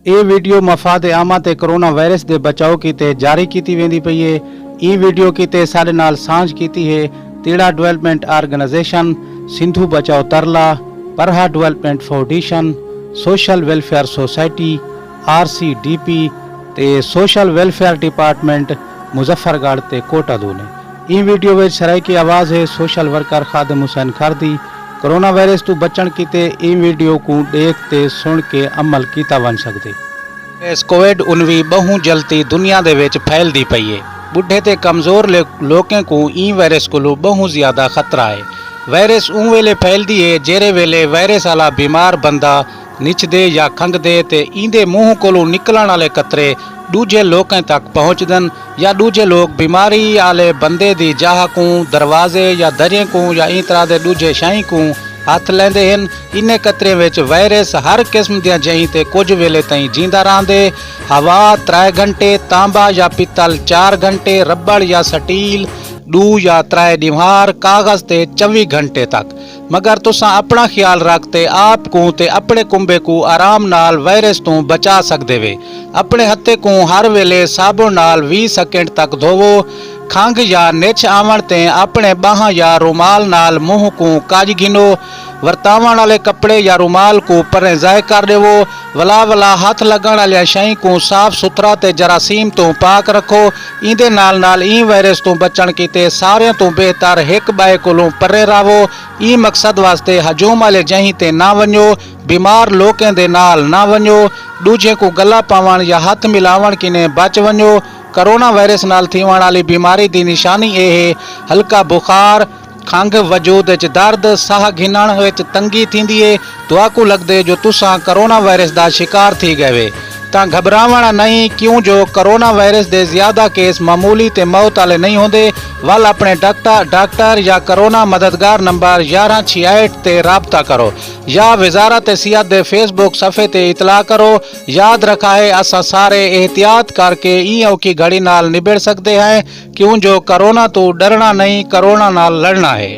اے video مفاد عامہ تے کورونا وائرس دے بچاؤ کیتے جاری کیتی ویندی پئی اے۔ ایں ویڈیو کیتے ساڈے نال سانجھ کیتی ہے تیڑا ڈویلپمنٹ آرگنائزیشن، سندھو بچاؤ ترلا، پرہا development foundation, social welfare society, R C D P, تے social welfare department Muzaffargarh تے کوٹہ دو نے۔ ایں ویڈیو وچ سرائیکی آواز ہے سوشل ورکر خادم حسین کھر دی۔ کورونا وائرس توں بچݨ کیتے ایں ویڈیو کوں ݙیکھ تے سݨ کے عمل کیتا ونڄ سڳدے۔ ایس کوویڈ انوی ٻہوں جلتی دنیا دے وچ پھیلدی پئی اے۔ ٻڈھے تے کمزور لوکیں کوں ایں وائرس کولوں ٻہوں زیادہ خطرہ اے۔ وائرس اوں ویلے پھیلدی اے جیرھے ویلے وائرس آلا بیمار بندہ نچدے یا کھنگدے تے ایندے منہ کولوں نکلݨ آلے قطرے ݙوجھے لوکیں تک پہنچدن یا ݙوجھے لوک بیماری آلے بندے دی جاہ کوں، دروازے یا دریں کوں یا ایں طرح دے ݙوجھے شئیں کوں ہتھ لیندے ہن۔ انھیں قطریں وچ وائرس ہر قسم دیاں جئیں تے کجھ ویلے تئیں جیندا رہندے۔ ہوا، ترائے گھنٹے، تانبا یا پتل، چار گھنٹے، ربڑ یا سٹیل، ݙو یا ترائے ݙیوہار، کاغذ تے چوی گھنٹے تک۔ مگر تساں اپنڑاں خیال رکھ تے آپ کوں تے اپنڑے کنبے کوں آرام نال وائرس توں بچا سگدے وے۔ اپنڑے ہتھے کوں ہر ویلے صابن نال ویہہ سیکنڈ تک دھوو۔ کھنگھ یا نچھ آونڑ تے اپنڑے باہاں یا رومال نال منہ کوں کج گھنو۔ ورتاونڑ آلے کپڑے یا رومال کوں پریں ضائع کر ڈیوو۔ ولا ولا ہتھ لڳݨ آلیاں شئیں کوں صاف ستھرا تے جراثیم توں پاک رکھو، ایندے نال نال ایں وائرس توں بچݨ کیتے ساریاں توں بہتر ہک ٻئے کولوں پرے رہو، ایں مقصد واسطے ہجوم آلے جہیں تے نہ ونڄو، بیمار لوکیں دے نال نہ ونڄو، ݙوجھیں کوں ڳلا پاوݨ یا ہتھ ملاوݨ کنیں بچ ونڄو، کورونا وائرس نال تھیوݨ آلی بیماری دی نشانی اے ہے ہلکا بخار، کھنگھ، وجود اچ درد، ساہ گھنݨ اچ تنگی تھیندی اے، تہاکوں لڳدے جو تساں کورونا وائرس دا شکار تھی ڳئوے تاں گھٻراوݨ نئیں کیوں جو کورونا وائرس دے زیادہ کیس معمولی تے موت آلے نئیں ہوندے ول اپݨے ڈاکٹا ڈاکٹر یا کورونا مددگار نمبر یارھاں چھیاہٹ تے رابطہ کرو یا وزارت صحت دے فیس بک صفحے تے اطلاع کرو یاد رکھائے اساں سارے احتیاط کر کے ایں اوکھی گھڑی نال نبڑ سڳدے ہیں کیوں جو کرونا توں ڈرنا نئیں کرونا نال لڑنا ہے۔